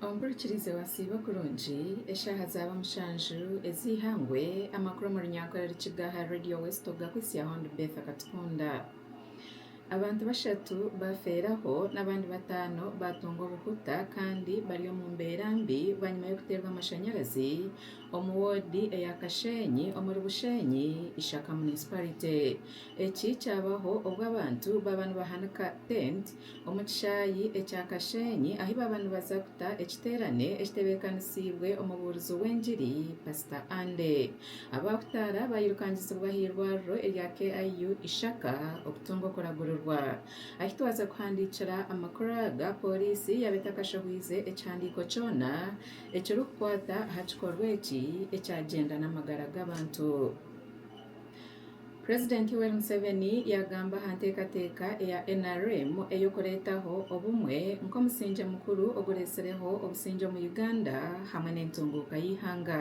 Ompurikirize wasiiba kurungi eshaaha zaaba mushanju ez'eihangwe amakuru omu runyankore Rukiga aha Radio West Ogakwitsya Hon Betha Katukunda. Abantu bashatu baafeeraho n'abandi bataano baatunga obuhuta kandi bari omu mbeera mbi bwanyima y'okuteerwa amashanyarazi omu woodi eya Kasheenyi omuri Busheenyi Ishaka Municipality. Eki kyabaho obu abantu baaba nibahanika tent omu kishaayi ekya Kasheenyi ahi baaba nibaza kuta ekiteerane ekitebeekanisiibwe omubuurizi w'engiri Pasita Andy. Abaahutaara baayirukangizibwa aha irwariro erya KIU Ishaka okutunga okuragurirwa. Ahi twaza kuhandiikira amakuru aga, pooriisi yaaba etakashehwize ekihandiiko kyona ekirikukwata aha kikorwa eki ekyagyenda n'amagara g'abantu. Purezidenti Yoweri Museveni yaagamba aha nteekateeka eya nrm ey'okureetaho obumwe nk'omusingye mukuru ogureetsireho obusingye omu Uganda hamwe n'entunguuka y'eihanga.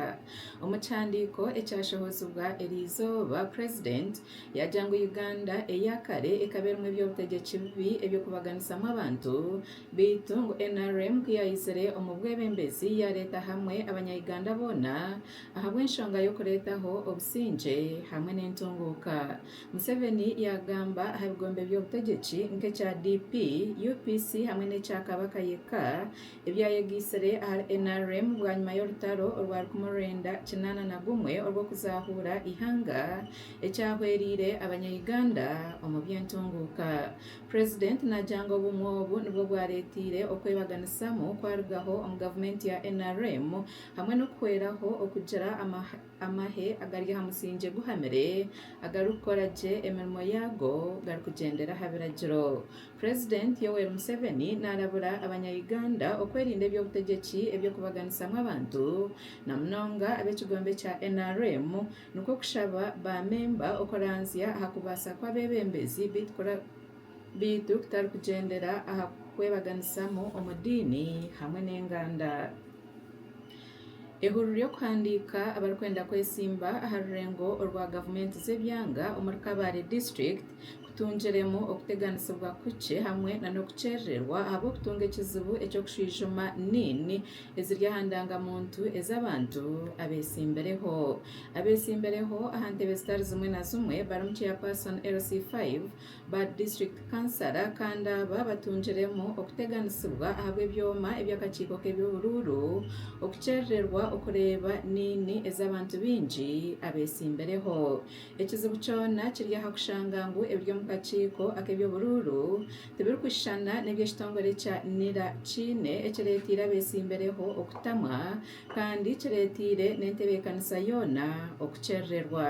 Omu kihandiiko ekyashohozibwa eri izooba, purezidenti yaagira ngu Uganda eya kare ekaba erimu eby'obutegyeki bibi eby'okubaganisamu abantu beitu ngu nrm ku yaizire omu bwebembezi yaareeta hamwe Abanya-Uganda boona ahabw'enshonga y'okureetaho obusingye hamwe n'entunguuka, Museveni yaagamba aha bigombe by'obutegyeki nk'ekya DP, UPC hamwe n'ekya Kabaka yekka ebyayegaitsire ahari nrm bwanyima y'orutaro orwa rukumi orwenda kinaana na gumwe orw'okuzaahuura eihanga ekyahwereire abanya-Uganda omu by'entunguuka. Purezidenti naagira ngu obumwe obu nibwo bwareeteire okwebaganisamu kwarugaho omu gavumenti ya nrm hamwe n'okuhweraho okugira amahe agari aha musingye guhamire agarikukora gye emirimo yaago garikugyendera aha biragiro. President Yoweri Museveni naarabura abanya Uganda okwerinda eby'obutegyeki eby'okubaganisamu abantu na munonga ab'ekigombe kya nrm nikwo kushaba ba memba okuranzya aha kubaasa kw'abebembezi beitu beitu kutarikugyendera aha kukwebaganisamu omu diini hamwe n'enganda. Ehururu y'okuhandiika abarikwenda kwesimba aha rurengo orwa gavumenti z'ebyanga omuri Kabale district kutungiremu okuteganisibwa kukye hamwe nana okukyerererwa ahabw'okutunga ekizibu eky'okushwijuma nin eziri aha ndangamuntu ez'abantu abesimbireho abesimbireho aha ntebe zitari zimwe na zimwe barimu chairperson LC5. Ba district councillor kandi aba batungiremu okuteganisibwa ahabw'ebyoma eby'akakiiko k'eby'oburuuru okukyerererwa okureeba niini ez'abantu baingi abeesimbireho. Ekizibu kyona kiri aha kushanga ngu ebiri omu kakiiko ak'eby'oburuuru tibirikushushana n'ebi ekitongore kya nira kiine ekireeteire abeesimbireho okutamwa kandi kireeteire n'entebeekanisa yoona okukyerererwa.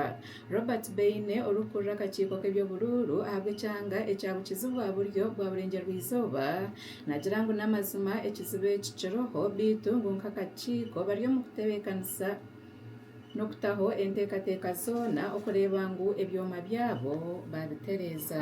Robert Beine orikukurira akakiiko k'eby'oburuuru ahabw'ekyanga ekya Bukizi bwa buryo bwa burengyerizooba nagira ngu n'amazima ekizibu eki kiriho beitu ngu nk'akakiiko bari omu kutebekanisa n'okutaho enteekateeka zoona okureeba ngu ebyoma byabo babitereeza.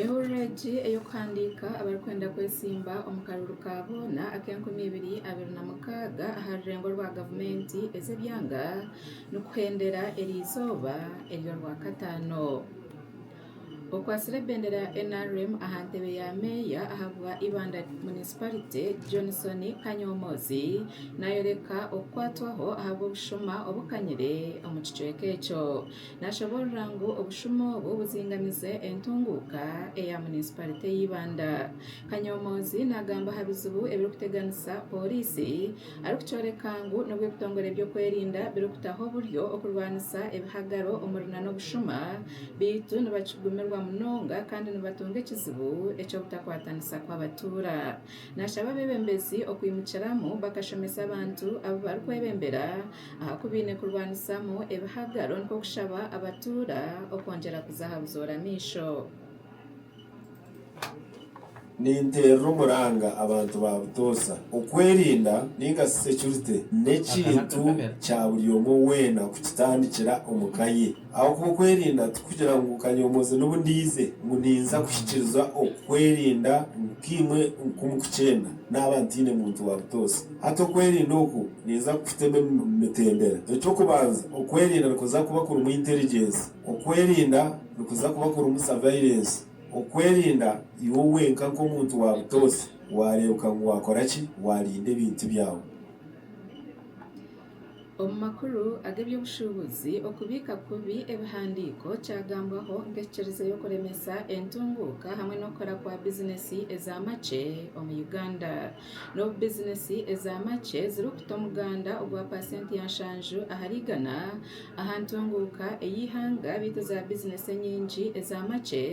Ehurira egi ey'okuhandiika abarikwenda kwetsimba omu karuru ka boona ak'enkumi ibiri abiri na mukaaga aha rurengo rwa gavumenti ez'ebyanga nikuhendera eri izooba ery'orwakataano. Okwatsire ebendera ya nrm aha ntebe ya meeya ahabwa Ibanda munisiparite Johnson Kanyomoozi nayoreka okukwatwaho ahabw'obushuma obukanyire omu kicweka ekyo. Naashoboorora ngu obushumo obwo buzingamize entunguuka eya munisiparite y'eibanda. Kanyoomoozi naagamba aha bizibu ebirikuteganisa pooriisi arikukyoreka ngu n'obw'ebitongore by'okwerinda birikutaho oburyo okurwanisa ebihagaro omuri n'obushuma beitu nibakigumirwa munonga kandi nibatunga ekizibu eky'obutakwatanisa kw'abatuura. Naashaba abeebembezi okwimukiramu bakashomesa abantu abu barikwebembera Aha ku baine kurwanisamu ebihagaro nikwo kushaba abatuura okwongyera kuza aha buzoora amaisho. Ninteerera omuranga abantu ba Butoosa. Okwerinda ninga shi securite n'ekintu kya buri omwe weena kukitandikira omu ka ye. Ahabw'okuba okwerinda tikugira ngu nkanyomooze n'obu ndaize ngu ninza kuhikiiriza okwerinda nk'imwe oku mukukyenda, naaba ntaine muntu wa butoosa. Hati okwerinda oku ninza kukutamu emitendera. Eky'okubanza, okwerinda nikuza kuba kurimu intelligence. Okwerinda nikuza kuba kurimu surveillance. Okwerinda iwe wenka nk'omuntu wa butoosa waareebeka ngu waakora ki? Waarinda ebintu byawe. Omu makuru ag'eby'obushuubuzi, okubiika kubi ebihandiiko kyagambwaho nk'ekikiriza y'okuremesa entunguuka hamwe n'okukora kwa bizineesi eza makye omu Uganda. N'obu bizineesi eza makye zirikuta omuganda ogwa paasenti ya nshanju ahari igana aha ntunguuka ey'eihanga beitu za bizineesi enyingi eza makye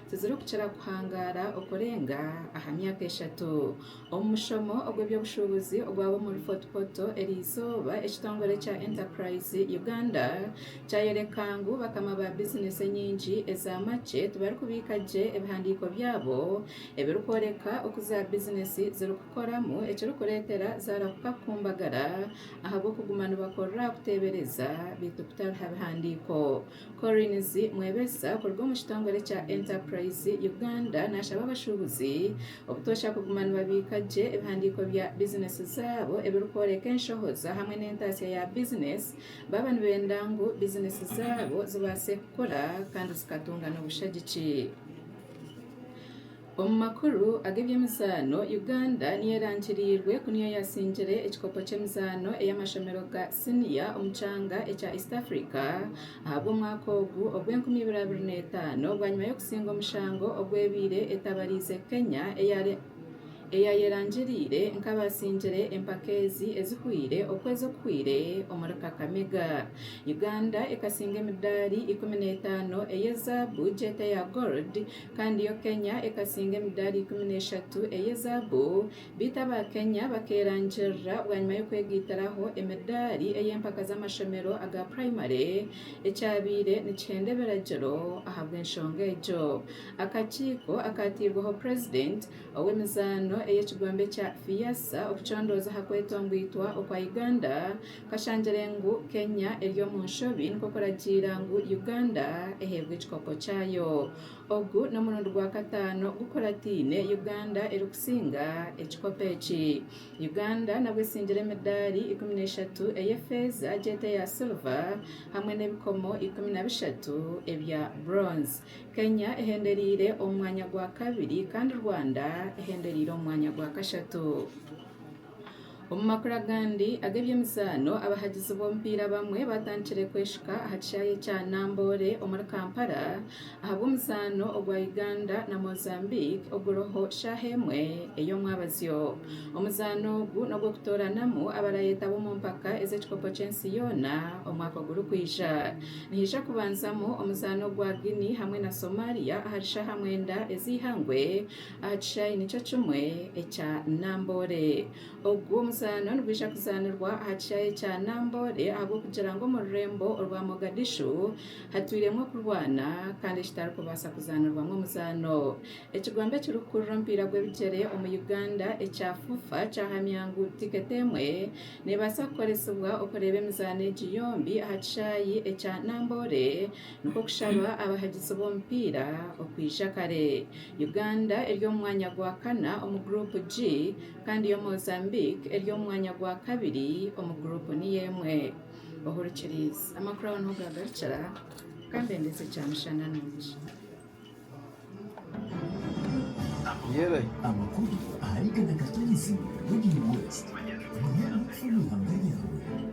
tizirikukira kuhangaara okurenga aha myaka eshatu. Omu mushomo ogw'eby'obushuubuzi ogwaba omuri Fort Portal eri izooba, ekitongore kya Enterprise Uganda kyayoreka ngu bakama ba bizineesi enyingi eza makye tibarikubiika gye ebihandiiko byabo ebirikworeka oku za bizineesi zirikukoramu ekirikureetera zaarahuka kukumbagara ahabw'okuguma nibakorera aha kuteebereza beitu kutariha bihandiiko. Collins Mwebesa kuruga omu kitongore kya Enterprise Uganda naashaba abashuubuzi obutoosha kuguma nibabiika gye ebihandiiko bya bizineesi zaabo ebirikworeka enshohoza hamwe n'entaatsya ya bizineesi baaba nibenda ngu bizineesi zaabo zibaase kukura kandi zikatunga n'obushagiki. Omu makuru ag'eby'emizaano, Uganda niyo erangiriirwe ku niyo yaatsingire ekikopo ky'emizaano ey'amashomero ga siniya omu kyanga ekya East Africa ahabw'omwaka ogu ogw'enkumi ibiri abiri n'etaano bwanyima y'okutsingwa omushango ogw'ebaire etabariize Kenya eyayerangiriire nk'abaatsingire empaka ezi ezihweire okwezi okuhweire omuri Kakamega Uganda ekatsiinga emidaari ikumi n'etaano ey'ezaabu, gyete ya Gold, kandi yo Kenya ekasinga emidaali ikumi n'eshatu ey'ezaabu, beitu aba Kenya bakeerangirira bwanyima y'okwegaitiraho emidaali ey'empaka z'amashomero aga puraimari ekyabaire nikihenda ebiragiro ahabw'enshonga egyo. Akakiiko akaateirweho purezidenti ow'emizaano ey'ekigombe kya FIASA okucondooza aha kwetongoitwa okwa Uganda Kashangire ngu Kenya eri omu nshobi nikwo kuragiira ngu Uganda eheebwe ekikopo kyayo. Ogu n'omurundi gwa kataano gukurataine Uganda erikusinga ekikopo eki. Uganda nabwo esingire emidaari ikumi na eshatu ey'efeeza egi eti eya silva hamwe n'ebikomo ikumi na bishatu ebya bronze. Kenya ehendereire omu mwanya gwa kabiri kandi Rwanda ehendereire omu mwanya gwa kashatu. Omu makuru agandi ag'ebyemizaano, abahagizi b'omupiira abamwe batandikire kweshuka aha kishaayi ekya Namboole omuri Kampala ahabw'omuzaano ogwa Uganda na Mozambique oguriho shaaha emwe ey'omwabazyo. Omuzaano ogu n'ogw'okutooranamu abarayetaba omu mpaka ez'ekikopo ky'ensi yoona omwaka ogurikwija. Nihaija kubanzamu omuzaano ogwa Guinea hamwe na Somalia ahari shaaha mwenda ez'eihangwe Aha kishaayi nikyo kimwe ekya Namboole. Ogu omuzaano nigwija kuzaanirwa aha kishaayi ekya Namboole ahabw'okugira ngu omu rurembo orwa Mogadishu hatwiremu okurwana kandi ekitarikubaasa kuzaanirwamu omuzaano. Ekigombe ekirikukurira omupiira gw'ebigyere omu Uganda ekya FUFA kyahamya ngu tiketi emwe neebaasa kukoresibwa okureeba emizaano egi yombi aha kishaayi ekya Namboole. nikwo kushaba abahagizi b'omupiira okwija kare. Uganda eri omu mwanya gwa kana omu Group G kandi yo Mozambique eri omu mwanya gwa kabiri omu Group niyo emwe. Ohurikiriize. Amakuru aho niho gaagarukira. Ka mbendeze kyamushana nungi. Amakuru ahari Ghana Kataizi Radio West. Manya amakuru omu ihanga ryawe.